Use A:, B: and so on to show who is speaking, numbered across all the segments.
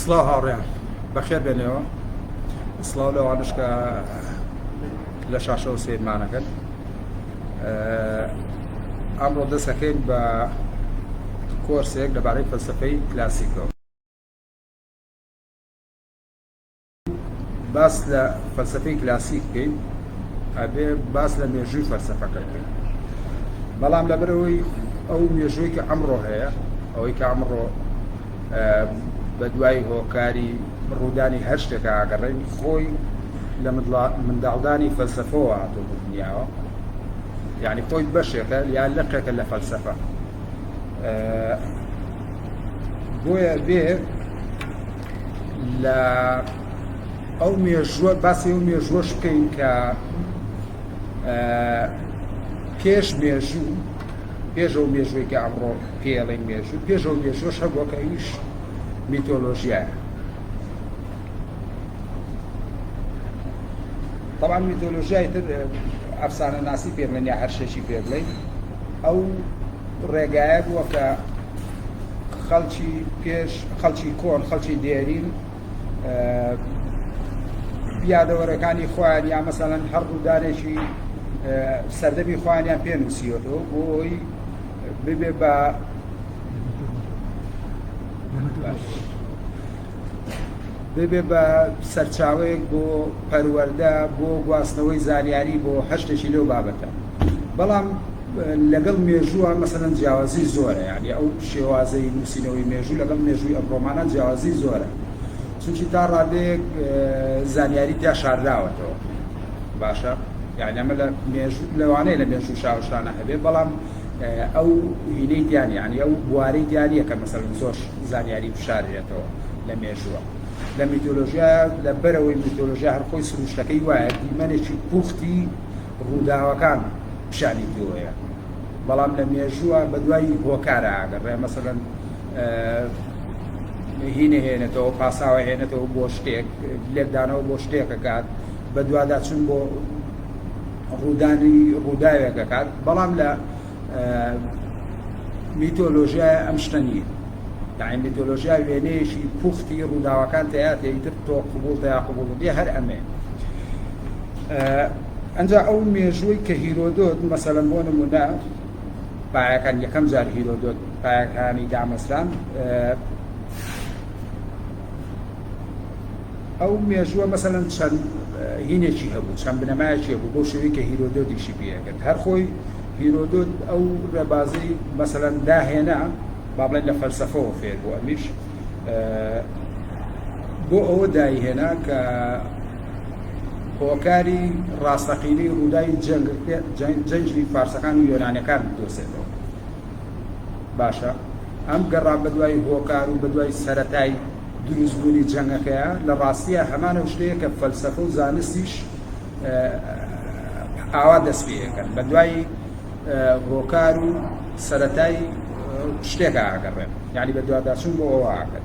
A: سڵاو هاوڕێیان بەخێر بێنەوە سڵاو لەوانش کە لە شاشەوە سیرمانەکەن ئەمڕۆ دەستەکەین بە کۆرسێک لەبارەی فەلسفەی کلاسیکەوە باس لە فەلسفەی کلاسیک بکەین ئەبێ باس لە مێژووی فەلسفەکە بکەین بەڵام لەبەرەوەی ئەو مێژووی کە ئەمڕۆ هەیە ئەوەی کە ئەمڕۆ بە دوای هۆکاری ڕوودانی هەر شتێکە ئاگەڕێن خۆی لە منداڵدانی فەلسفەوە هاتۆ دنیاوە یعنی خۆی بەشێکە یا لەقێکە لە فەلسفە بۆیە بێ لە ئەو مێژووە باسی ئەو مێژووەش بکەین کە پێش مێژوو پێش ئەو مێژووی کە ئەمڕۆ پێڵین مێژوو پێش ئەو مێژووش هەبووە کە ئەویش میتۆلۆژیایە طبعا میتۆلۆژیای تر ئەفسانە ناسی پێ بڵێن یا هەر شتێکی پێ بڵێن ئەو ڕێگایە بووە کە خەڵکی پێش، خەڵکی کۆن، خەڵکی دێرین یادەوەرەکانی خۆیان یا مەسەلەن هەر ڕوودانێکی سەردەمی خۆیانیان پێ نووسیوەەوە بۆی ببێ بە ببێ بە سەرچاوەیەک بۆ پەروەردە بۆ گواستنەوەی زانیاری بۆ هەشتێکی لەو بابەتە بەڵام لەگەڵ مێژووە مەسەن جیاوازی زۆرە یعنی ئەو شێوازەی نووسینەوەی مێژوو لەگەڵ مێژووی ئەمڕۆمانە جیاوازی زۆرە چونکی تا ڕادێک زانیاری تیا شارداوەتەوە باشە یعنی ئەمە لە مێژوو لەوانەیە لە مێژوو شاوشانە هەبێ بەڵام ئەو وینەی دیار یانی ئەو بوارەی دیاریە کە مەسەرن زۆر زانیاری بشارێتەوە لە مێژووە لە میتۆلۆژیا لە بەرەوەی میتۆلۆژیا هەرخۆی سروشتەکەی وایە دیمەنێکی پوختی ڕووداوەکان پیشانی پێوەیە بەڵام لە مێژووە بە دوای هۆکارە ئاگەڕێ مەسەرەن هینە هێنێتەوە پاساوە هێنێتەوە بۆ شتێک لێکدانەوە بۆ شتێکەکات بە دوواداچون بۆ ڕوودانی ڕووداوێک دەکات بەڵام لە میتۆلۆژیای ئەم شتە نییە یعنی میتۆلۆژیا وێنەیەکی پوختی ڕووداوەکان تیاتێ ئیتر تۆ قوبول تیا قوبول بێ هەر ئەمێ ئەجا ئەو مێژووی کە هیرۆدۆت مەسەلەن بۆ نمونە پایەکان یەکەم جار هیرۆدۆت پایەکانی دامەزران ئەو مێژووە مەسەلەن چەند هینێکی هەبوو، چەند بنەمایەکی هەبوو بەو شێوەی کە هیرۆدۆت ئیشی پێ ئەکرد. هەر خۆی هیرۆدۆت ئەو ڕێبازەی مەسەلەن داهێنا، با بڵێین لە فەلسەفەوە فێر بوو، ئەمیش بۆ ئەوە دایهێنا کە هۆکاری ڕاستەقینەی ڕووداوی جەنگ، جەنگی فارسەکان و یۆنانەکان بدۆزێتەوە. باشە ئەم گەڕان بەدوای هۆکار و بەدوای سەرەتای دروستبوونی جەنگەکەیە لە ڕاستیە هەمان ئەو شتەیە کە فەلسەفە و زانستیش ئاوا دەست پێەکەن بە دوای هۆکار و سەتای شتێک ئاگەڕێن یعنی بە دواداچون بۆ ئەوواکەن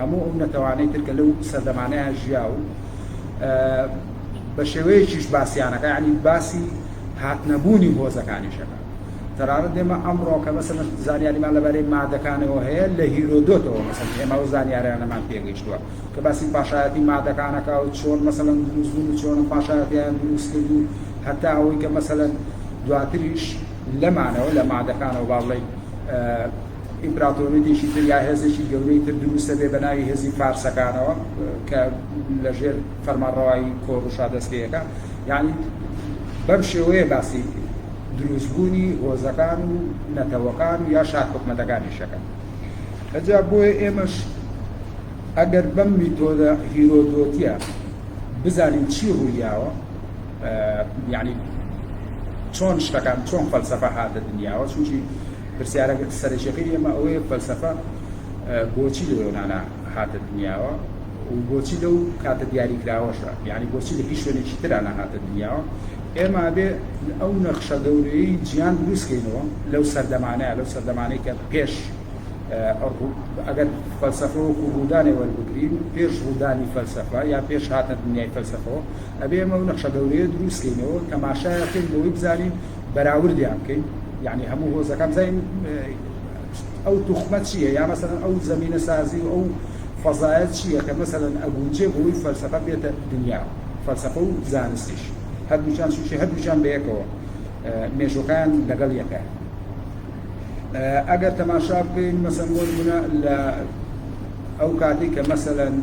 A: هەموو ئەو نەتەوانەی تر کە لەو سەردەمانەیا ژیا و بە شێوەیەکیش باسیانەکە یعنی باسی هاتنەبوونی هۆزەکانیشەکە تەرارە دێمە ئەمڕۆ کە مەسەن زانیاریمان لەبارەی مادەکانەوە هەیە لە هیرۆدۆتەوە مەسەن ئێمە و زانیارانەمان پێگەیشتووە کە باسی پاشایەتی مادەکانەکە و چۆن مەسەن دروستبوون و چۆن پاشایەتیان دروست کرد و هەتا ئەوەی کە مەسەن دواتریش لەمانەوە لە مادەکانەوە باڵێ ئیمپراتۆریەتێکی تر یا هێزێکی گەورەی تر درووستە بێ بە ناوی هێزی فارسەکانەوە کە لە ژێر فەرمانڕەوایی کۆروشا دەست پێەکە یعنی بەم شێوەیە باسی دروستبوونی هۆزەکان و نەتەوەکان و یا شار حکومەتەکانیشەکە ئەجا بۆیە ئێمەش ئەگەر بەم میتۆدە هیرۆدۆتیە بزانین چی ڕوویاوە یعنی چۆن شتەکان چۆن فەلسەفە هاتە دنیاوە چونکی پرسیارە سەرەکیەکەی ئێمە ئەوەیە فەلسەفە بۆچی لە یۆنانا هاتە دنیاوە و بۆچی لەو کاتە دیاری کراوەشە یعنی بۆچی لە هیچ شوێنێکی ترانە هاتە دنیاوە ئێمە بێ ئەو نەخشە گەورەی جیان دروستکەینەوە لەو سەردەمانەیە لەو سەردەمانەی کە پێش ئەگەر فەلسەفە وەکو ڕوودانێ وەربگرین پێش ڕوودانی فەلسەفە یا پێش هاتە دنیای فەلسەفەوە ئەبێ ئەمە و نەخشە گەورەیە دروستکەینەوە تەماشایەکەین بۆی بزانین بەراوردیان بکەین یعنی هەموو هۆزەکان بزانین ئەو توخمە چییە یا مەسەن ئەو زمینە سازی و ئەو فەزایە چییە کە مەسەن ئەگونجێ بۆی فەلسەفە بێتە دنیا فەلسەفە و زانستیش هەردووچان سوچی هەردووچان بەیەکەوە مێژۆکان لەگەڵ یەکە ئەگەر تەماشا بکەین مەسەن بۆ نمونە لە ئەو کاتی کە مەسەن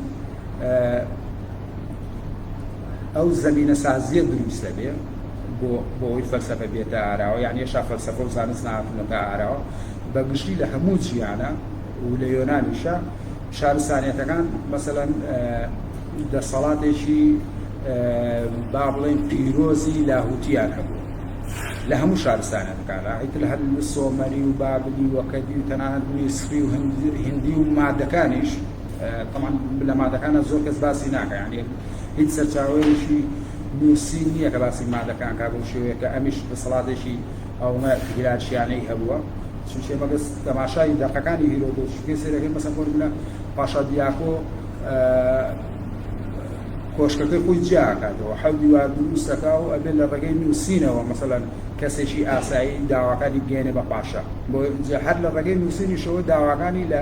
A: ئەو زەمینە سازیە دروست دەبێ بۆ بۆی فەلسەفە بێتە ئاراوە یان یەشا فەلسەفە و زانست ناتونەتە ئاراوە بە گشتی لە هەموو جیانە و لە یۆنانیشە شارستانیەتەکان مەسەەن دەسەڵاتێکی با بڵێن پیرۆزی لاهوتیان هەبوو لە هەموو شارستانە بکارە هیت لە هەر سۆمەری و بابلی وەکەدی و تەنانەت میسری و هندی و مادەکانیش تەمان لە مادەکانە زۆر کەس باسی ناکە یانە هیچ سەرچاوەیەکی نووسین نییە کە باسی مادەکان کا بەو شێوەیە کە ئەمیش دەسەڵاتێکی ئەومە هیرارشیانەی هەبووە چونچێ مەگەس تەماشای دەقەکانی هیرۆدۆت شکێ سێرەکەی مەسە فۆرمولە پاشا دیاکۆ کۆشکەکەی خۆی جیاکاتەوە حەو دیوار دروستەکە و ئەبێت لە ڕێگەی نووسینەوە مەسەلەن کەسێکی ئاسایی داواکانی بگەێنێ بە پاشا بۆ هەر لە ڕێگەی نووسینیشەوە داواکانی لە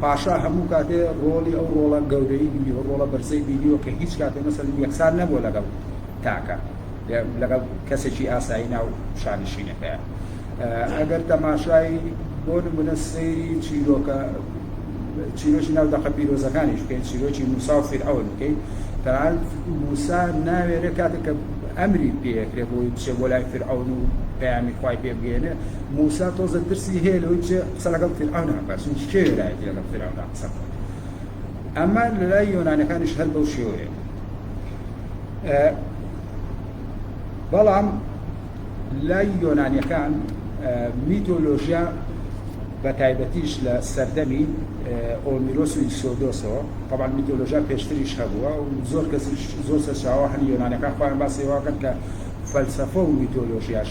A: پاشا هەموو کاتێ ڕۆڵی ئەو ڕۆڵە گەورەی بینی و ڕۆڵە بەرزەی بینی و کە هیچ کاتێ مەسەلەن یەکسان نەبووە لەگەڵ تاکە لەگەڵ کەسێکی ئاسایی ناو شانشینەکەیە ئەگەر تەماشای بۆ نمونە سەیری چیرۆکە چیرۆکی ناو دەقە پیرۆزەکانیش بکەین چیرۆکی موسا و فیرعەون بکەین تەنان موسا ناوێرە کاتێک کە ئەمری پێکرێ بۆی بچێ بۆ لای فیرعەون و پەیامی خوای پێ بگەێنێ موسا تۆزێ ترسی هەیە لەوەی بچێ قسە لەگەڵ فیرعەونا بکات چونکی کێ وێرایەتی لەگەڵ فیرعەونا قسە بکات ئەمە لەلای یۆنانەکانیش هەر بەو شێوەیە بەڵام لای یۆنانیەکان میتۆلۆژیا بە تایبەتیش لە سەردەمی ئۆمیرۆس و ئیسۆدۆسەوە طبعا میتۆلۆژیا پێشتریش هەبووە و زۆر کەسیش زۆر سەرچاوە هەن یۆنانەکان خۆیان باسێواکەن کە فەلسەفە و میتۆلۆژیاش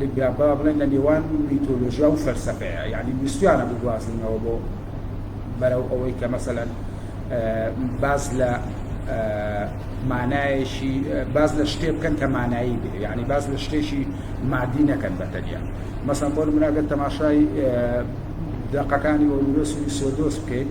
A: لە با بڵێن لە نێوان میتۆلۆژیا و فەلسەفەیە یانی ویستویانە بگوازنەوە بۆ بەرەو ئەوەی کە مەسەلەن باز لە مانایەکی باز لە شتێ بکەن کە مانایی بێ یعنی باز لە شتێکی مادی نەکەن بە تەنیا مەسەن بۆ مناگەر تەماشای دەقەکانی وەرورەسوی سۆدۆس بکەیت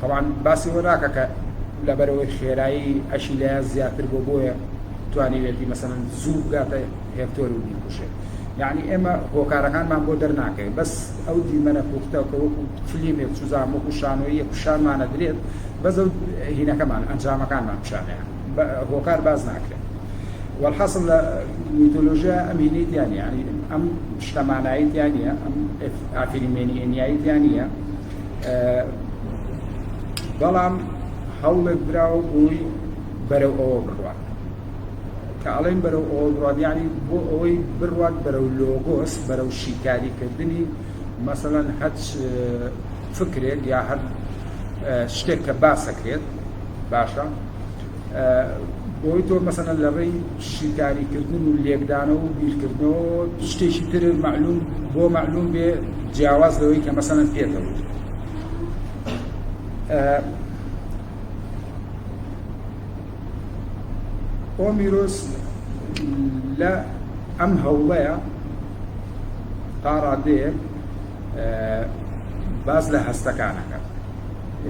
A: تەبعەن باسی ئەوە ناکە کە لەبەرەوەی خێرایی ئەشی لایان زیاتر بۆ بۆیە توانیوێتی مەسەن زوو بگاتە هێکتۆر و بیکوشێ یعنی ئێمە هۆکارەکانمان بۆ دەرناکەین بەس ئەو دیمەنە پوختە کە وەکو فلیمێک چوزان وەکو شانۆیە پیشانمانە درێت بەس ئەو هینەکەمان ئەنجامەکانمان پیشانیان هۆکار باز ناکرێت والحاصل لە میتۆلۆژیا ئەم هینەی دیانە ینی ئەم شتەمانایت یانە ئەم ئافریمێنیەنیایت یانە بەڵام هەوڵێک براوە بووی بەرەو ئەوە بڕوات کە ئەڵێن بەرەو ئەوە بڕات یعنی بۆ ئەوەی بڕات بەرەو لۆگۆس بەرەو شیکاریکردنی مەسەەن هەچ فکرێک یا هەر شتێک کە باسەکرێت باشە بۆی تۆ مەسەلەن لە ڕێی شیکاری کردن و لێکدانەوە و بیرکردنەوە شتێکی تر معلوم بۆ معلوم بێ جیاواز لەوەی کە مەسەلەن پێتەوت ئۆمیرۆس لە ئەم هەوڵەیە تا ڕادەیەک باس لە هەستەکانەکە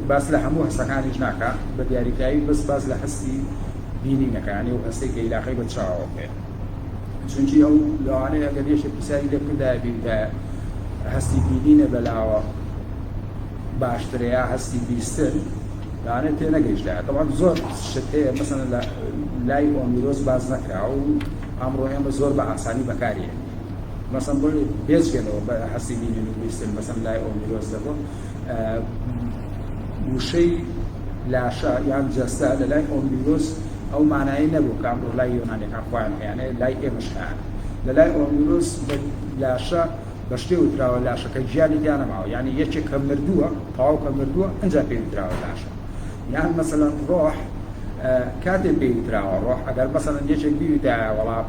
A: باس لە هەموو هەستەکانیش ناکە بە دیاریکراوی بەس باس لە هەستی بینینەکانی و هەستەی کە عیلاقی بە چاوەوە بێت چونکی ئەو لەوانەیە گەر یەشێ پرسیاری لێ بکردایە بیوتە هەستی بینینە بەلاوە باشترە یا هەستی بیستن لەوانێت تێ نەگەیشتە تەوان زۆر شت هەیە مەسەن لە لای ئۆمیرۆز باز نەکرا و ئەمڕۆ ئێمە زۆر بە ئاسانی بەکاریە مەسەن بۆ بێجگە لەوە بە هەستی بینین و بیستن مەسەن لای ئۆمیرۆس دەبۆ وشەی لاشە یان جەستە لە لای ئۆمیرۆس ئەو مانایی نەبوو کە ئەمڕۆ لای یۆنانەکان خۆیان هەیانێ لای ئێمەش هەیان لە لای ئۆمیرۆس لاشە بە شتێ وتراوە لاشەکە گیانی دیانەماوە یعنی یەکێک کە مردووە تاو کە مردووە ئەجا پێی وتراوە لاشە یان مەسەلەن ڕۆح کاتێ پێی وتراوە ڕۆح ئەگەر مەسەن یەکێک بیوتایە وڵات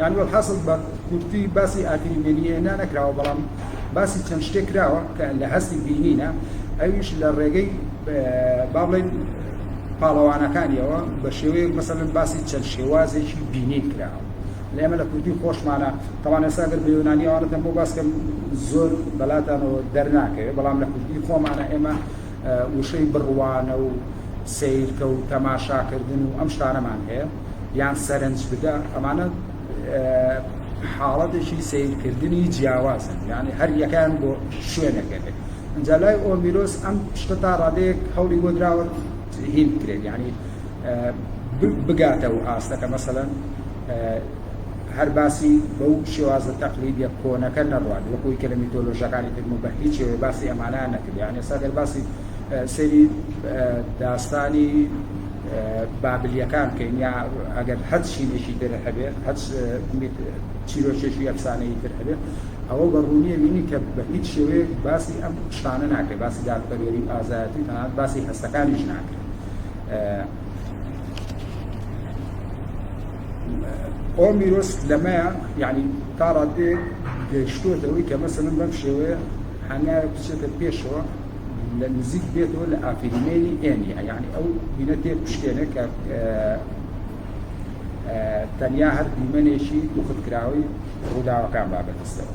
A: یانی وەلحاسڵ بە کورتی باسی ئاگری مێنییەنا نەکراوە بەڵام باسی چەند شتێک کراوە کە لە هەستی بینینە ئەویش لە ڕێگەی با بڵێن پاڵەوانەکانیەوە بە شێوەیەک مەسەن باسی چەند شێوازێکی بینی کراوە لە ئێمە لە کوردی خۆشمانە تەوانە ساگەر بە یۆنانیوانەتەن بۆ باسکەم زۆر بەلاتانەوە دەرناکەوێت بەڵام لە کوردی خۆمانە ئێمە وشەی بڕوانە و سەیرکە و تەماشاکردن و ئەم شتانەمان هەیە یان سەرنج بدە ئەمانە حاڵەتێکی سیرکردنی جیاوازن یعنی هەر یەکان بۆ شوێنەکەێت ئەجا لای ئۆمیرۆس ئەم شتە تا ڕادەیەک هەولی بۆ دراوە هین بکرێت یعنی بگاتە و ئاستەکە مەسەەن هەر باسی بەو شێوازە تەقلیدیە کۆنەکە نەڕوات وەک ئەوی کە لە میتۆلۆژیاکانی تر بوو، بەهیچ شێوەیە باسی ئەمانەیان نەکرد، یان ئێستا گەر باسی سەیری داستانی بابلیەکان بکەین یا ئەگەر هەچ شینێکی تر هەبێ هەچ چیرۆکێکی ئەفسانەی تر هەبێ ئەوە بە ڕوونیە بینی کە بە هیچ شێوەیەک باسی ئەم شتانە ناکرێت باسی دادپەروەری و ئازایەتی تەنانەت باسی هەستەکانیش ناکرێت ئەو میرۆس لەمەیە یعنی تا ڕادێ گەیشتوەتەوەی کە مەسەن بەم شێوەیە هەنایە بچێتە پێشەوە لە نزیک بێتەوە لە ئافرینێنی ئێنیە یعنی ئەو بینە تێ پشکێنە کە تەنیا هەر دیمەنێکی دوخت کراوەی ڕووداوەکان بابەتستەوە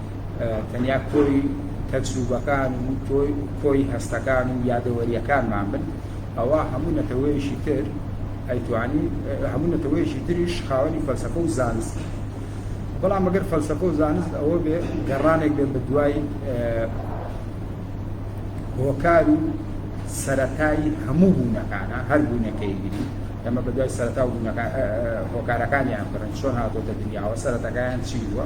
A: تەنیا کۆی تەجروبەکان و کۆی هەستەکان و یادەوەریەکانمان بن ئەوا هەموو نەتەوەیەکی تر ئەیتوانی هەموو نەتەوەیەکی تریش خاوەنی فەلسەفە و زانست بەڵام مەگەر فەلسەفە و زانست ئەوە بێ گەڕانێک بێ بە دوای هۆکار و سەتایی هەموو بوونەکانە هەر بوونەکەی گری ئەمە بە دوای سەرتا و هۆکارەکانیان بڕن چۆن هاتۆتە دنیاوە سەرەتەکان چی بووە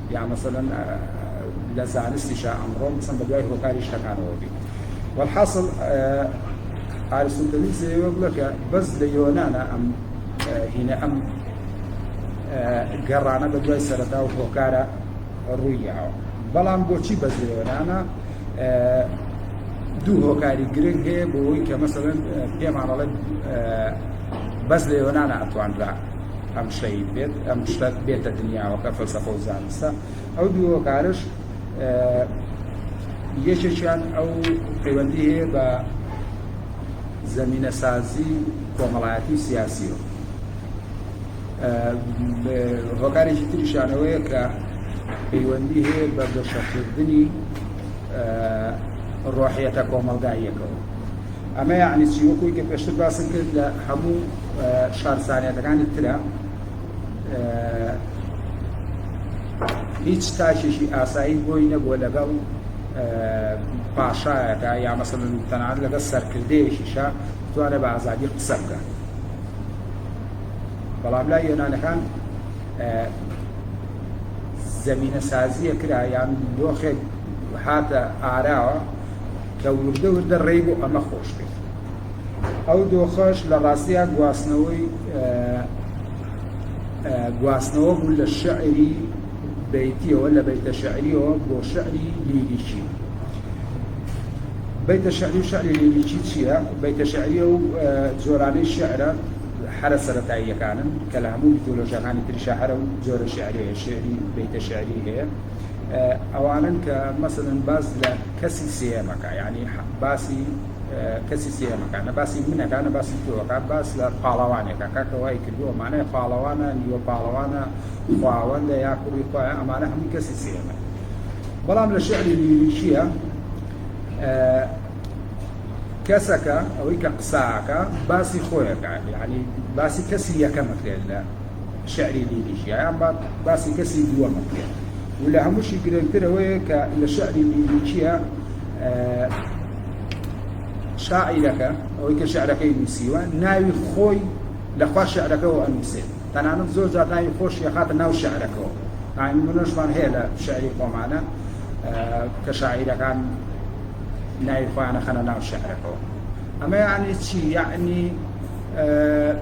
A: یان مەسەلەن لە زانستیشا ئەمڕۆ چەند بەدوای هۆکاری شتەکانەوە بین وەلحاسڵ ئارستوتلیس لەوێ بڵێ کە بەس لە یۆنانا ئەم هینە ئەم گەڕانە بە دوای سەرەتا و هۆکارە ڕوویاوە بەڵام بۆچی بەس لە یۆنانا دوو هۆکاری گرنگ هەیە بۆ ئەوی کە مەسەن پێمانەڵێت بەس لە یۆنانا ئەتوانرا ئەم شەهید بێت ئەم شتە بێتە دنیاوە کە فەلسەفە و زانستە ئەو دوو هۆکارش یەکێکیان ئەو پەیوەندی هەیە بە زمینە سازی کۆمەڵایەتی و سیاسیەوە هۆکارێکی تریشانەوەیە کە پەیوەندی هەیە بە گەشەکردنی ڕۆحیەتە کۆمەلگاییەکەەوە ئەمە یەعنی چی؟ وەکوی کە پێشتر باسم کرد لە هەموو شارسانیەتەکانی ترە هیچ تاکێکی ئاسایی بۆی نەبووە لەگەڵ پاشایەکە یا مەسەن تەنان لەگەڵ سەرکردەیەکیشە توانە بە ئازادی قسە بکە بەڵام لای یۆنانەکان زمینە سازیە کرا یان دۆخێک هاتە ئاراوە کە وردە وردە ڕێی بۆ ئەمە خۆش کرد. ئەو دۆخەش لە ڕاستیا گواستنەوەی گواستنەوە بوو لە شعری بەیتیەوە لە بەیتە شعریەوە بۆ شعری لیریکی. بەیتە شعری و شعری لیریکی چییە؟ بەیتە شعریە و جۆرانەی شعرە حەرە سەتاییەکانن کە لە هەموو میتۆلۆژیەکانی تریشە هەرە و جۆرە شعرەیە شعری بەیتە شعری هەیە ئەوانن کە مەسەن باز لە کەسی سێیەمەکا یانی باسی کەسی سێمەکان نە باسی منەکان نە باسی تۆەکە باس لە پاڵەوانێکە کاکە وای کردو ئەمانە پاڵەوانە نیوە پاڵەوانە خواوەندە یا کوڕی خۆیان ئەمانە هەمووی کەسی سێمە بەڵام لە شعری لیریکیە کەسەکە ئەوەی کە قساکە باسی خۆیەکە یعنی باسی کەسی یەکەمەکرێت لە شعری لیلیشی ئەیان با باسی کەسی دووەم بکرێت و لە هەمووشی گرنگتر ئەوەیە کە لە شعری لیلیشیە شاعیرەکە ئەوەی کە شعرەکەی نووسیوە ناوی خۆی لەخوا شعرەکەەوە ئەنووسێت تەنانەت زۆر جار ناوی خۆشی خاتە ناو شعرەکەەوە منۆشمان هەیە لە شعری خۆمانە کە شاعیرەکان ناوی خۆیانە خەنە ناو شعرەکەەوە ئەمە یعنی چی یعنی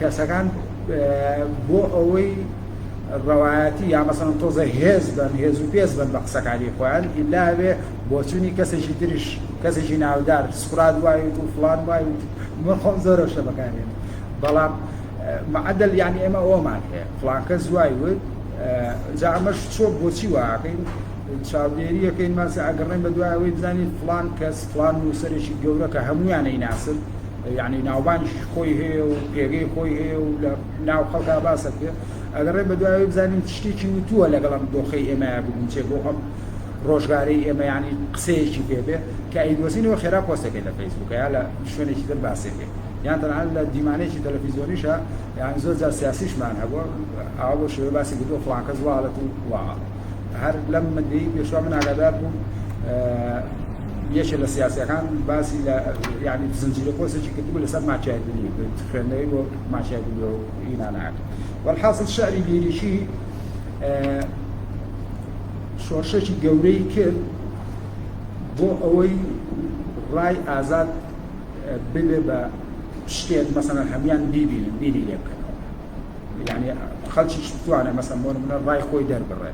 A: کەسەکان بۆ ئەوەی ڕەوایەتی یا مەسەن تۆزە هێز بن هێز و پێز بن بە قسەکانی خۆیان ئیلاوێ بۆچوونی کەسێکی تریش کەسێکی ناودار سقرات وای و فلان وای و من خۆم زۆرە شتە بەکارێن بەڵام معدل یعنی ئێمە ئەومان هەیە فلانکە زوای وت جا ئەمەش چۆ بۆچی واکەین چاودێریەکەین ماسە ئەگەڕێن بە دوایەوەی بزانین فلان کەس فلان نووسەرێکی گەورە کە هەمویانەی ناسن یەعنی ناوبانگی خۆی هەیە و پێگەی خۆی هەیە و لە ناو خەڵکا باسە کرد ئەگەر ڕێ بەدوایەوەی بزانین شتێکی وتووە لەگەڵ ئەم دۆخەی ئێمەیە بگونچێ بۆ ئەم ڕۆژگارەی ئێمە ینی قسەیەکی پێبێ کە ئەیدۆزینەوە خێرا پۆستەکەی لە فەیسبووکە یا لە شوێنێکی تر باسێکێ یان تەنان لە دیمانێکی تەلەفیزیۆنیشە یان زۆر جار سیاسیشمان هەبووە ئاوا بۆ شێوە باسی گردو فڵانکەس واڵەت و واڵە هەر لەم مدەی پێشوا من ئاگادار بووم یەکێ لە سیاسەکان باسی لە یعنی زنجیرە پۆسێکی کردبوو لەسەر ماچایدنی خوێندنەوەی بۆ ماچایدنی و ئینانەکە والحاصل شعری لیریکی شۆرشێکی گەورەی کرد بۆ ئەوەی ڕای ئازاد ببێ بە شتێک مەسەن هەمان بیبینن بینی لێ بکەن یانی خەلکیش بتوانێ مەسەن بۆ نمونە ڕای خۆی دەربڕێ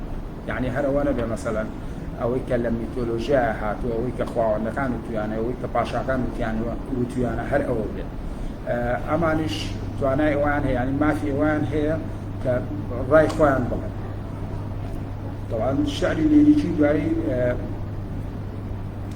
A: یعنی هەرەوە نەبێ مەسەلەن ئەوەی کە لە میتۆلۆژیا هاتوو ئەوەی کە خواوەندەکان وتویانە ئەوەی کە پاشاکان وتیان وتویانە هەر ئەوە بێت ئەمانیش توانای ئەوان هەیە ینی مافی ئەوان هەیە کە ڕای خۆیان بڵێن طبعا شعری لیریکی دوایی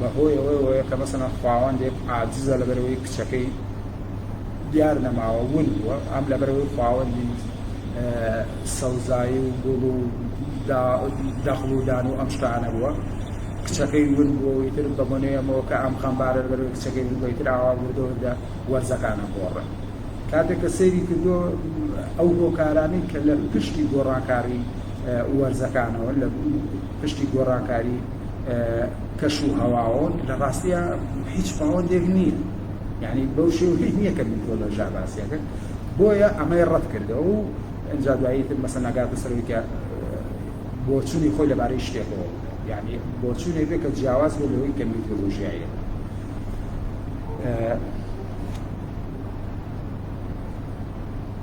A: بەهۆی ئەوەیەوە کە مەسەلەن خواوەندێک عاجزە لەبەرەوەی کچەکەی دیار نەماوە ون بووە ئەم لەبەرەوەی خواوەندی سەوزایی و گوڵ و دەخڵ و دان و ئەم شتانە بووە کچەکەی ون بووەوەی تر بە بۆنەیەمەوە کە ئەم خەمبارە لەبەرەوەی کچەکەی بووی تر ئاوا وردە وردە وەرزەکانە گۆڕە کاتێک کە سەیری کردو ئەو هۆکارانی کە لە پشتی گۆڕانکاری وەرزەکانەوە لە پشتی گۆڕانکاری کەش و هەواوە لە ڕاستیا هیچ باوەندێک نییە یعنی بەو شێوەی نییە کە میتۆلۆژا باسیەکە بۆیە ئەمەی ڕەت کردەوە و ئەجا دوایی تر مەسە ناگاتە سەرەوەی کە بۆچوونی خۆی لەبارەی شتێکەوە یعنی بۆچوونێک بێ کە جیاواز بێ لەوەی کە میتۆلۆژیایە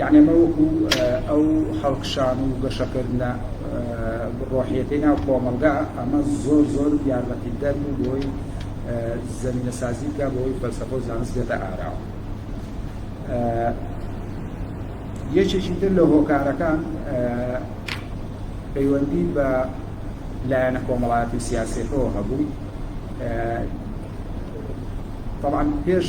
A: یەعنی ئەمە وەکو ئەو هەڵکشان و گەشەکردنە ڕۆحیەتەی ناو کۆمەڵگا ئەمە زۆر زۆر یارمەتیدەر بوو بۆی زمینە سازی بکە بۆی فەلسەفە و زانست بێتە ئاراوە یەکێکی تر لە هۆکارەکان پەیوەندی بە لایەنە کۆمەڵایەتی و سیاسەکەەوە هەبوو طبعا پێش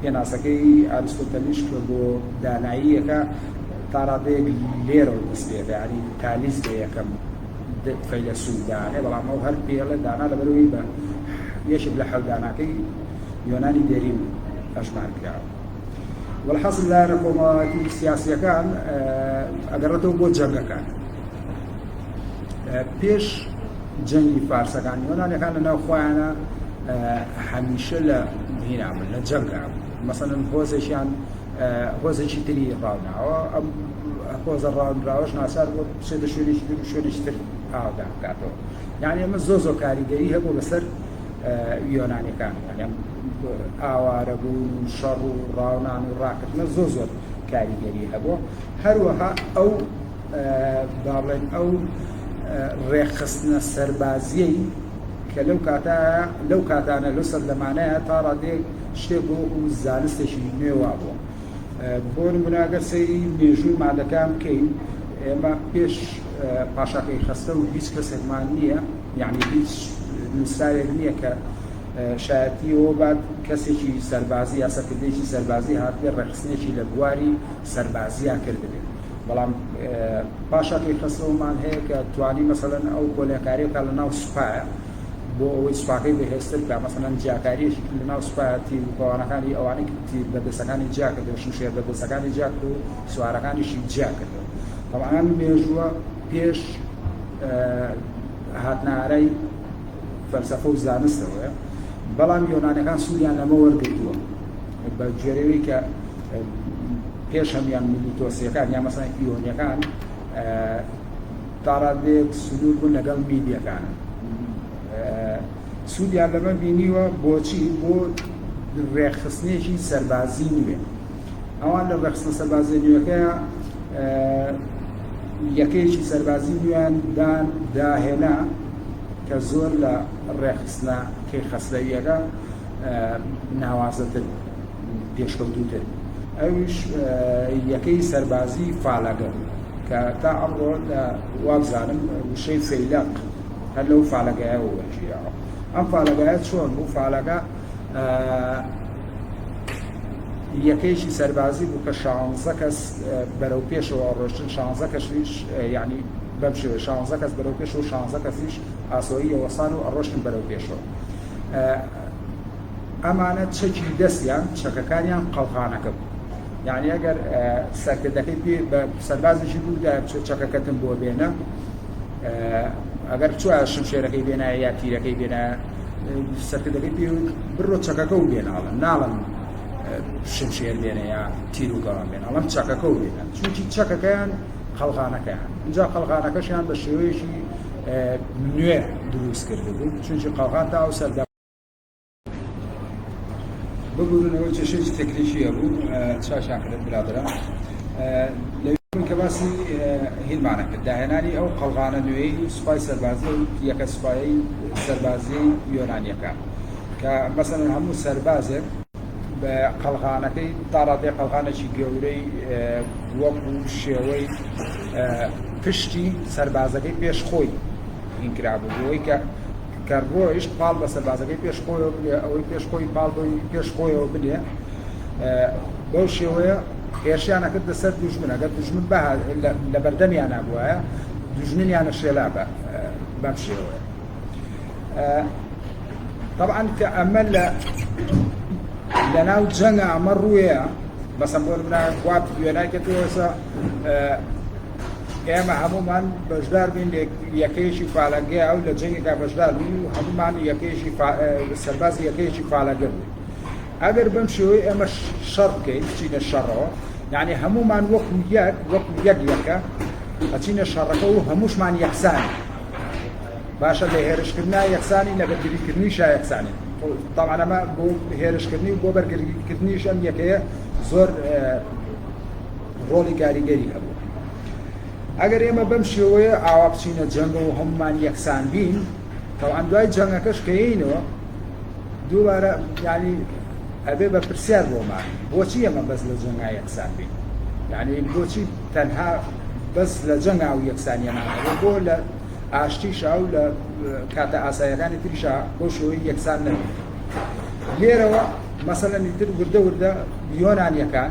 A: پێناسەکەی ئاریستۆتەلیش کە بۆ داناییەکە تا ڕادەیەک لێرەوە دەست پێ دەکات، یانی تالیس بە یەکەم فەیلەسوف دانێ، بەڵام ئەو هەر پێ ئەڵێ دانا لەبەرئەوەی بە یەکێک لە حەوت داناکەی یۆنانی دێرین هەژمار کراوە. وەلحاسل لایەنە کۆمەڵایەتی سیاسییەکان ئەگەڕێتەوە بۆ جەنگەکان. پێش جەنگی فارسەکان یۆنانەکان لە ناو خۆیانە هەمیشە لە هینامن لە جەنگا مەسەن هۆزێکیان هۆزێکی تری ڕاوناوە ئەم هۆزە ڕاونراوەش ناچار بۆ بچێتە شوێنێکی تر و شوێنێکی تر ئاودا بکاتەوە یعنی ئەمە زۆ زۆ کاریگەری هەبوو بەسەر یۆنانەکان ئاوارە بوون و شەڕ و ڕاونان و ڕاکردنە زۆ زۆر کاریگەری هەبوو هەروەها ئەو بابڵێن ئەو ڕێکخستنە سەربازیەی کە لەو کاتا لەو کاتانە لەو سەردەمانەیە تا ڕادێک شتێک بۆ وەکو زانستێکی نوێوا بووە بۆ نموناگەر سەیری مێژووی مادەکان بکەین ئێمە پێش پاشاکەی خەستە و هیچ کەسێکمان نییە یعنی هیچ نووسراوێک نییە کە شایەتی ئەوە بات کەسێکی سەربازی یا سەرکردێکی سەربازی هاتێ ڕێخستنێکی لە بواری سەربازیە کردبێت بەڵام پاشا کەیخەسرەومان هەیە کە توانی مەسەلەن ئەو کۆلێنکاریە بکات لە ناو سوپایە بۆ ئەوەی سوپاکەی بەهێزتر بکات مەسەلەن جیاکاریەکی کرد لە ناو سوپایە تیر و کەوانەکانی ئەوانەی کرد تیر بەردەسەکانی جیا کردەوە شمشێر بەردەسەکانی جیا کرد و سوارەکانیشی جیا کردەوە بەڵام ئەم مێژووە پێش هاتنارای فەلسەفە و زانستەوەیە بەڵام یۆنانەکان سوودیان لەمە وەرگرتووە بە گوێرەوەی کە پێش هەموان میلیتۆسیەکان یا مەسان ئیۆنیەکان تاڕادێک سنوور بوون لەگەڵ میدیەکان سوودیان لەمە بینیوە بۆچی بۆ ڕێکخستنێکی سەربازی نوێ ئەوان لە ڕێخستە سەربازی نوێەکە یەکەیەکی سەربازی نوێیان دان داهێنا کە زۆر لە ڕێخستنە کەی خەسلەویەکە ناوازەتر پێشکەوتووتر ئەویش یەکەی سەربازی فالەگە بوو کە تا ئەمڕۆ وابزانم وشەی فەیلەق هەر لەو فالەگایەوە وەرگیراوە ئەم فالەگایە چۆن بوو فالەگە یەکەیشی سەربازی بوو کە شانزە کەس بەرەو پێشەوە ڕۆشتن شانزە کەشویش یعنی بەم شێوە شانزە کەس بەرەو پێش و شانزە کەسیش ئاسۆییەوەسان و ئەڕۆشتن بەرەو پێشەوە ئەمانە چەکی دەستیان چەکەکانیان قەڵغانەکە بوو یعنی ئەگەر سەرکردەکەی پێ بە سەربازێکی بوودا بچێت چەکەکەتم بۆ بێنە ئەگەر چوە شمشێرەکەی بێنایە یا تیرەکەی بێنایە سەرکردەکەی پێ بڕۆ چەکەکە و بێناڵم ناڵم شمشێر بێنە یا تیر و گەڵام بێن ئەڵم چەکەکە و بێنە چونکی چەکەکەیان قەلغانەکەیان اینجا قەلغانەکەشیان بە شێوەیەکی نوێ دروست کرد بوو چونکی قەڵغان تا و سەردە بگورن ئەوەی کێشەی تەکنیکی هەبوو چاشان کرد برادرا کە باسی هیلمانە کرد داهێنانی ئەو قەڵغانە نوێی سوپای سەربازی یەکە سوپایی سەربازی یۆنانیەکە کە مەسەن هەموو سەربازێک بە قەلغانەکەی تاڕادێ قەلغانێکی گەورەی وەک و شێوەی پشتی سەربازەکەی پێش خۆی هینکرابوو بۆی کە کە ڕۆیشت پاڵ بە سەربازەکەی پێش خۆیەوە بنێ، ئەوەی پێش خۆی پاڵ بەوی پێش خۆیەوە بنێ. بەو شێوەیە هێرشیان ئەکردە سەر دوژمن، ئەگەر دوژمن لە بەردەمیان نابووایە دوژمنیانە شێلابە بەم شێوەیە. طبعا کە ئەمە لە لەناو جەنگە ئەمە ڕوویە بەسەم بۆ منە وات دوێنای کردوەسە ئێمە هەموومان بەشدار بین لە یەکەیەکی پالەنگەیە و لە جەنگێکا بەشدار بین و هەموومان یەکەیەکی سەربازی یەکەیەکی پالەنگە بوو ئەگەر بەم شێوەی ئێمە شەڕ بکەین بچینە شەڕەوە یعنی هەموومان وەکو یەک وەکو یەک یەکە ئەچینە شەڕەکە و هەمووشمان یەکسانی باشە لە هێرشکردنا یەکسانی لە بەرگریکردنی شا یەکسانی تاوانەمە بۆ هێرشکردنی و بۆ بەرگریکردنیش ئەم یەکەیە زۆر ڕۆڵی کاریگەری هەبوو. ئەگەر ئێمە بەم شێوەیە ئاوا بچینە جەنگەوە و هەموومان یەکسان بین، تەوان دوای جەنگەکەش کە یەینەوە دووبارە یعنی ئەبێ بە پرسیار بۆمان بۆچی ئێمە بەس لە جەنگا یەکسان بین؟ یعنی بۆچی تەنها بەس لە جەنگا و یەکسانیەمان هەبێ بۆ لە ئاشتیشا و لە کاتە ئاسایەکانی تریشا بۆ شێوەی یەکسان نەبێت. لێرەوە مەسەلەنی تر وردە وردە یۆنانیەکان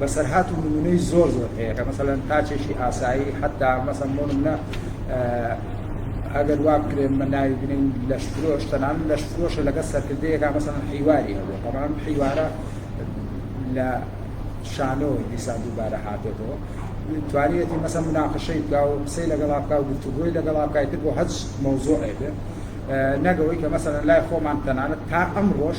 A: بەسەرهات و نمونەی زۆر زۆر هەیە کە مەسەلەن تاچێکی ئاسایی حتا مەسەن بۆ نمونە ئەگەر واب کرێن مە ناوی بنین لەش فرۆش تەنان لەش فرۆشە لەگە سەرکردەیەکە مەسەن حیواری هەبوو بەڵام حیوارە لە شانۆ دیسان دووبارە هاتێتەوە توانیەتی مەسە مناقشەی بکە و قسەی لەگەڵا بکە و گفتوگۆی لەگەڵا بکای تر بۆ هەچ مەوزۆعێ بێ نەگەوەی کە مەسەن لای خۆمان تەنانەت تا ئەم ڕۆژ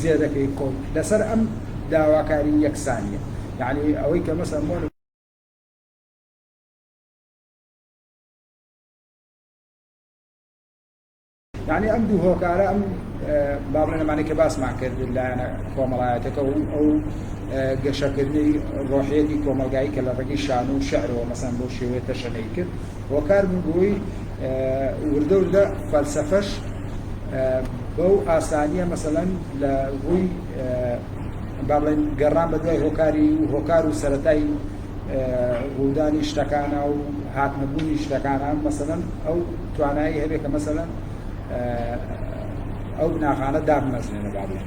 A: زێدەکەی کۆک لەسەر ئەم داواکاری یەکسانیە یەعنی ئەوەی کە مەسەن بۆ یعنی ئەم دوو هۆکارە ئەم بابلێنەمانی کە باسمان کرد لایەنە کۆمەڵایەتەکە و ئەو گەشەکردنی ڕۆحێتی کۆمەلگایی کە لە ڕگی شان و شعرەوە مەسەن بۆ شێوێتە شەنەی کرد هۆکار بوو بۆی وردە وردە فەلسەفەش بەو ئاسانیە مەسەەن لە ڕووی باڵێن گەڕان بە دوای هۆکاری و هۆکار و سەتای ڕوودانی شتەکانە و هاتنەبوونی شتەکانە مەسەەن ئەو توانایی هەبێت کە مەسەەن ئەو بناغانە دابمەزنێنە باڵێن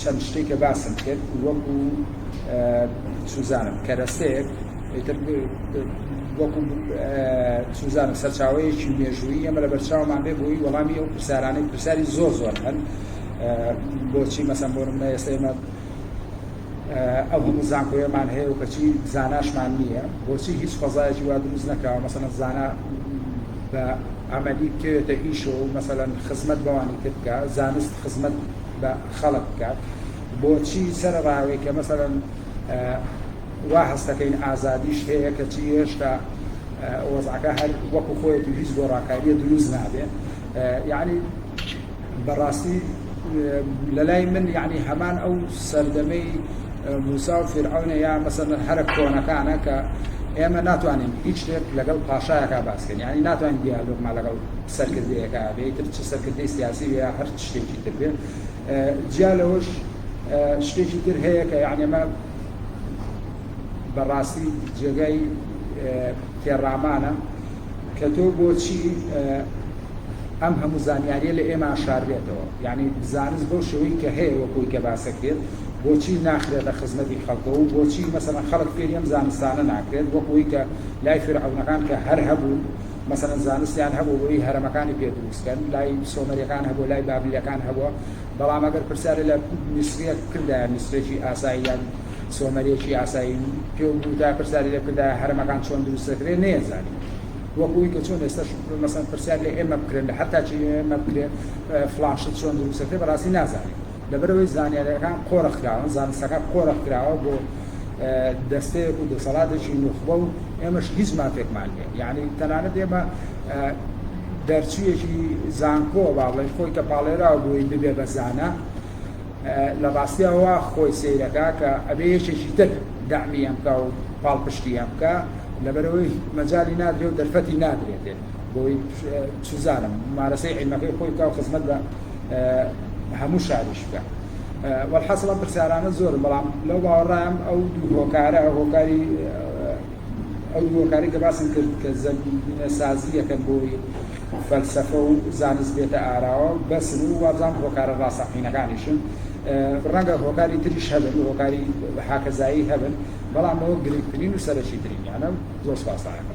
A: چەند شتێک کە باسم کرد وەکو چوزانم کەرەسەیەک ئیتر وەکو چوزانم سەرچاوەیەکی مێژوویی ئەمە لە بەرچاومان بێ بۆی وەڵامی ئەو پرسیارانەی پرسیاری زۆر زۆر هەن بۆچی مەسەن بۆ منە ئێستا ئێمە ئەو هەموو زانکۆیەمان هەیە و کەچی زاناشمان نییە بۆچی هیچ فەزایەکی وا دروست نەکەوە مەسەن زانا بە ئەمەلی بکەوێتە ئیشۆ و مەسەەن خزمەت بەوانی تر بکە زانست خزمەت بە خەڵک بکات بۆچی سەرڕاوێک کە مەسەلەن وا هەستەکەین ئازادیش هەیە کەچی هێشتا وەزعەکە هەر وەکو خۆیەت و هیچ گۆڕاکاریە دروست نابێ یعنی بەڕاستی لە لای من یعنی هەمان ئەو سەردەمەی موسا و فرعونە یا مەسەن هەرە کۆنەکانە کە ئێمە ناتوانین هیچ شتێک لەگەڵ پاشایەکە باسکەین یعنی ناتوانین دیالۆگمان لەگەڵ سەرکردەیەەکە بێتتر چ سەرکردەی سیاسی یا هەر شتێکی دەکرێت جیا لەوەش شتێکی تر هەیە کە یعنی ئەمە بەڕاستی جێگای تێڕامانە کە تۆ بۆچی ئەم هەموو زانیاریە لە ئێمە شاربێتەوە یعنی زانست بۆ شوی کە هەیە وەکوی کە باسەکرێت بۆچی ناخرێتە خزمەتی خەڵکە و بۆچی مەسەن خەڵک فێریەم زانستانە ناکرێت وەکوی کە لای فرعونەکان کە هەر هەبوو مەسەلەن زانستیان هەبوو بۆیی هەرەمەکانی پێ دروست کەن لای سۆمەریەکان هەبوو لای بابلیەکان هەبووە بەڵام ئەگەر پرسیارێ لە میسریەک بکردایە میسریەکی ئاسایی یان سۆمەریەکی ئاسایی پێ بوودا پرسیاری لێ بکردایە هەرەمەکان چۆن دروست دەکرێت نەیەزانی وەکوی کە چۆن ئێستاش مەسەن پرسیار لە ئێمە بکرێن لە هەر تاچی ئێمە بکرێت فلان شت چۆن دروست دەکرێت بەڕاستی نازانین لەبەرئەوەی زانیارییەکان قۆرخکراون، زانستەکە قۆرخکراوە بۆ دەستەیەک و دەسەڵاتێکی نوخبە و ئێمەش هیچ مافێکمان نییە، یەعنی تەنانەت ئێمە دەرچوویەکی زانکۆ با بڵێین خۆی کە پاڵێراوە بۆی ببێ بە زانا، لە ڕاستیا وا خۆی سەیرەکە کە ئەبێ یەکێکی تر دەعمی ئەم بکا و پاڵپشتی ئەم بکە، لەبەرەوەی مەجالی نادرێ و دەرفەتی نادرێتێ بۆی چ زانم مارەسەی عیلمەکەی خۆی بکا و خزمەت بە هەموو شاریش بکە وەحاصل ئەم پرسیارانە زۆرن بەڵام لەو باوەڕام ئەو دوو هۆکارە هۆکاری ئەو هۆکاری کە باسم کرد کە زەمینە سازی یەکەن بۆی فەلسفە و زانست بێتە ئاراوە بەسن و وابزان هۆکارە ڕاستەقینەکانیشن ڕەنگە هۆکاری تریش هەبن هۆکاری حاکەزایی هەبن بەڵام ئەوە گرنگترین و سەرەکی ترینیانە زۆر سپاسایەکە